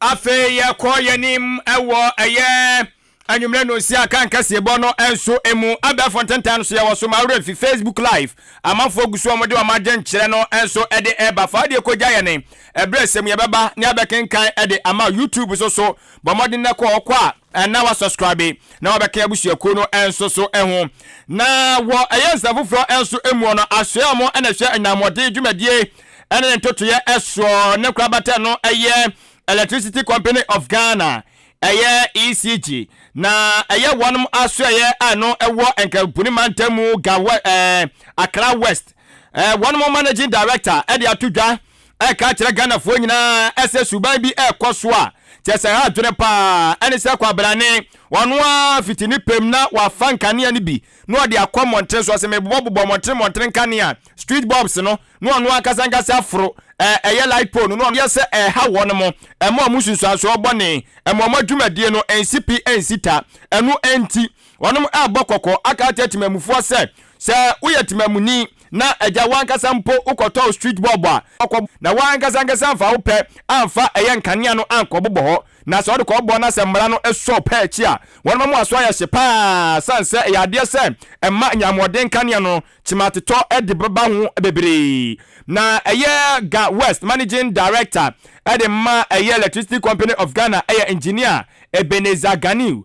Afei yɛkɔ yɛn anim wɔ ɛyɛ anwummerɛ no nsia kan kɛseɛbɔ no nso mu. Abɛɛfo ntentan no so yɛwɔ so ma awerɛ mfi Facebook live. Amanfoɔ gu so a wɔde wɔn adwenkyerɛ no nso de ɛba. Fa adeɛ kɔgya yɛn ɛberɛ sɛm yɛbɛba ne abɛkenkan de ama YouTube so so. Bɔ mmɔden na kɔ hɔ kɔ a. na wa subscribe na wa bɛka abusuakuo no nso so ho na wɔ ɛyɛ nsɛm foforɔ nso muɔ no asoɛ ɔmo na ɛhwɛ anyammɔden dwumadie ɛne ne ntotoyɛ ɛsoɔ ne kora batɛ no ɛyɛ electricity company of Ghana ɛyɛ ECG na ɛyɛ wɔn asoɛyɛ a ɛno ɛwɔ nkabuni mantamu gawa ɛɛ Accra West ɛɛ wɔn managing director ɛde ato dwa ɛka akyerɛ Ghanafoɔ nyinaa sɛ suban bi ɛrekɔ so a kyerɛ sɛ ɛha adwene paa. Ɛne sɛ kwabrane, ɔno ara fiti ne pɛm na wafa nkanea no bi na ɔde akɔ mmɔntene so. Ɔse mebobɔbobɔ mmɔntene mmɔntene nkanea, street bulbs, no na ɔno ankasa ankasa aforo ɛyɛ light pole no na ɔno yɛ sɛ ɛreha wɔn mo, ɛma wɔn nsunsuansoɔ bɔne, ɛma wɔn adwumadie no nsi pi nsi ta. Ɛno nti. Wɔrebɔ kɔkɔ aka akyerɛ temammufoɔ sɛ, sɛ woyɛ temammuni na agya w'ankasa mpo wokɔtɔɔ street bulb a, kɔ na w'ankasa ankasa amfa wo pɛ amfa ɛyɛ nkanea no ankɔbobɔ hɔ na sɛ wode kɔbobɔ na sɛ mmara no sɔ wo pɛ akyi a, wɔn mmoa so ayɛ hye pa ara sane sɛ ɛyɛ adeɛ sɛ ɛma nyamoɔden nkanea no kyematetɔ de bɛba ho bebree na ɛyɛ Ga West Managing Director de ma ɛyɛ Electricity Company of Ghana ɛyɛ Engineer Ebenezer Ganiw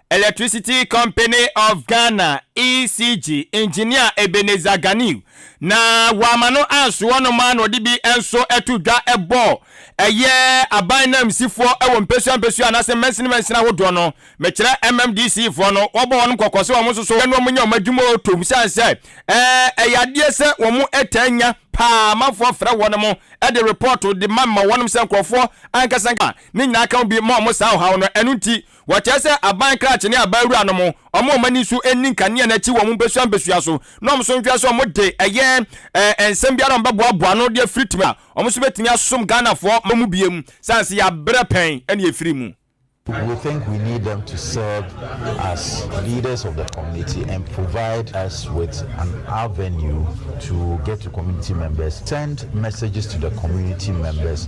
Electricity Company of Ghana, ECG, engineer Ebenezer Ganiw, na wɔama no anso hɔ nom ara na ɔde bi nso to dwa bɔ ɛyɛ aban nanmusifoɔ wɔ mpesua mpesua anaasɛ mansini mansini ahodoɔ no. Mekyerɛ MMDC foɔ no, wɔbɔ wɔnom kɔkɔ sɛ wɔn nso so ɛno wɔn nyɛ wɔn adwuma o tom sane sɛ ɛɛ ɛyɛ adeɛ sɛ wɔn taa nya paa amanfoɔ frɛ wɔnom de report de ma ma wɔnom sɛ nkurɔfoɔ ankasa ne nyinaa ka ho bi ma wɔn saa ɔhaw no ɛno nti Wɔkyerɛ sɛ aban krakye ne aban wura nom, wɔn a wɔn ani so nni nkanea no akyi wɔ wɔn mpesua mpesua so, na wɔn nso nhwɛ sɛ wɔde ɛyɛ ɛɛ nsɛm biara a wɔbɛboaboa ano de afiri tumi a wɔn nso bɛtumi asom Ghanafoɔ ma mu biem, sane sɛ yɛabrɛ pɛn na yɛfiri mu. We think we need them to serve as leaders of the community and provide us with an avenue to get to community members, send messages to the community members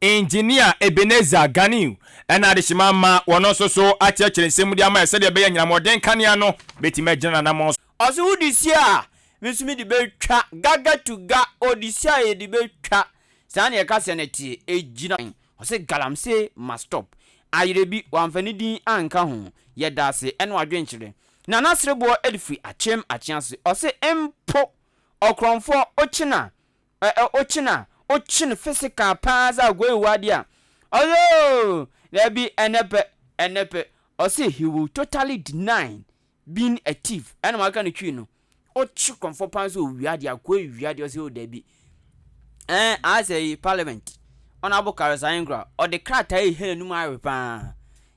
Engineer Ebenezer Ganiw na adehyema ama wɔn nso so akyerɛkyerɛ nsɛm mu de ama yɛn sɛdeɛ ɛbɛyɛ anyinam wɔden kanea no bɛtumi agyina n'anamɔn so. Ɔse wo de si a me nso me de bɛtwa Gaga to ga o de si a yɛ de bɛtwa Saa na yɛka sɛ no teɛ Ɛgyina he? Ɔse Galamsey ma stop Ayerɛ bi wamfa ne din anka ho Yɛda ase ne w'adwenkyerɛ Na n'asere boɔ de firi Akyem Akyease Ɔse mpo ɔkorɔmfoɔ okyena Ɛ ɛ Okyin a okyin physical paa dza agoe wɔ ade a, Ɔyoo! Dabi, ɛnɛ pɛ, ɛnɛ pɛ, ɔse he will totally deny being a thief, ɛna ɔaka no twi no, okyi krɔmfɔ paa dze owia ade, agoe wia ade, ɔse oh dabi. Ɛɛ aasɛ yi parliament, Honourable Karius Ayenkrah, ɔde krataa yi hɛn anum awe paa,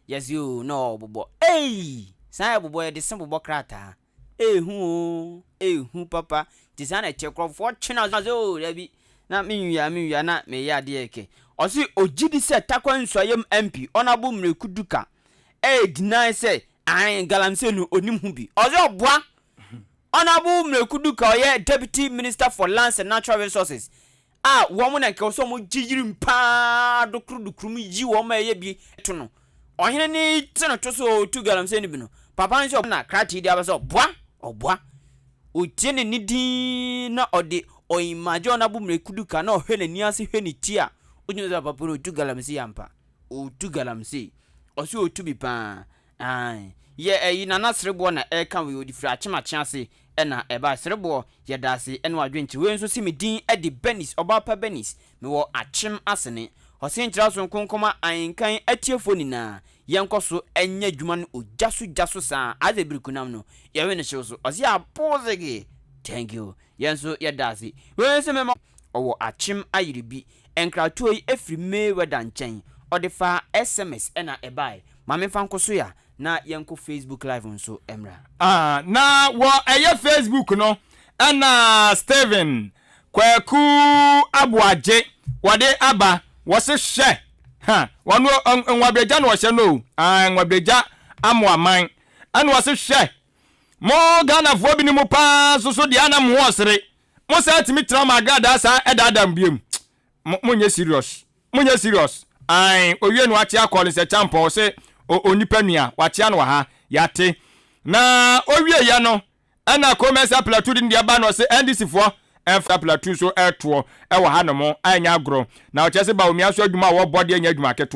yɛse oh na ɔɔbobɔ, eii! Saa yɛbobɔ, yɛde se bobɔ krataa. Ei hu oo ei hu papa nti saa na ɛteɛ nkurɔfoɔ twe na sɛ oo dabi na me nwia me nwia na meyɛ adeɛ kɛ. Ɔse ɔgye di sɛ Tarkwa Nsuayam MP Honourable Mreku Duka ɛyɛ deny sɛ aen Galamsey no ɔnim ho bi. Ɔse ɔboa Honourable Mreku Duka ɔyɛ Deputy Minister for Lands and Natural Resources a wɔn na nka ɔsɛ wɔn gye yirim paa dokorodokrom yi wɔn ma ɛyɛ bi to no ɔhene ne te no to so ɔtu galamsey no bi no papa nso ɔbɔ na kratee de aba sɛ ɔboa ɔboa ɔtie ne ne din na ɔde ɔyimagye ɔna bo mmerɛ kudu ka na ɔhwɛ n'ani ase hwɛ ne ti a ɔgyina sɛ papa no ɔtu galamsey ampa ɔtu galamsey ɔsɛ ɔtu bi paa Aane, yɛ ɛyi Nana Sereboɔ na ɛreka wei, ɔde firi Akyemakye ase na ɛbaeɛ. Sereboɔ, yɛdaase ɛne w'adwenkyerɛ. Wei nso se me din de Bernice, Ɔbaapa Bernice, mewɔ Akyem Asene. Ɔse nkyerɛ so nko nkɔma Ahenkan atiefoɔ nyinaa, yɛnkɔ so nyɛ adwuma no ogya so gya so saa ara. Ase bere kunam no, yɛwe no hyew so. Ɔse aboozegee! Thank you. Yɛn nso yɛda ase. Wei nso me ma. Ɔwɔ akyem ayere bi. Nkratoɔ yi firi Mayweather nkyɛn. Ɔde faa SMS na ɛbaeɛ. Ma menfa nko so ya na yɛnkɔ Facebook live nso mmra. Aah na wɔ ɛyɛ Facebook no na Stephen Kwaku Aboagye wɔde aba. Wɔse hwɛ ha wɔno Nwabragya na ɔhyɛ no o. Aah Nwabragya Amoaman ɛna ɔse hwɛ Mo Ghanafoɔ binom paa nso so deɛ ana mo ɔsere? Mo saa tumi tra mo agradaa saa ɛdaadaa mo biom? Mo mo nyɛ serious. Mo nyɛ serious. Ae owie no akyea Collins Acheampong ɔse o onipa nua wakyea no wɔ ha yɛate na owie yɛ no ɛna Koo Mensah Plateau de ne deɛ ba no ɔse NDC foɔ ɛmfa Plateau so ɛtoɔ ɛwɔ ha nom ɛnyɛ agorɔ na ɔkyerɛ se Bawumia nso adwuma a wɔbɔ deɛ nyɛ adwuma ketewa.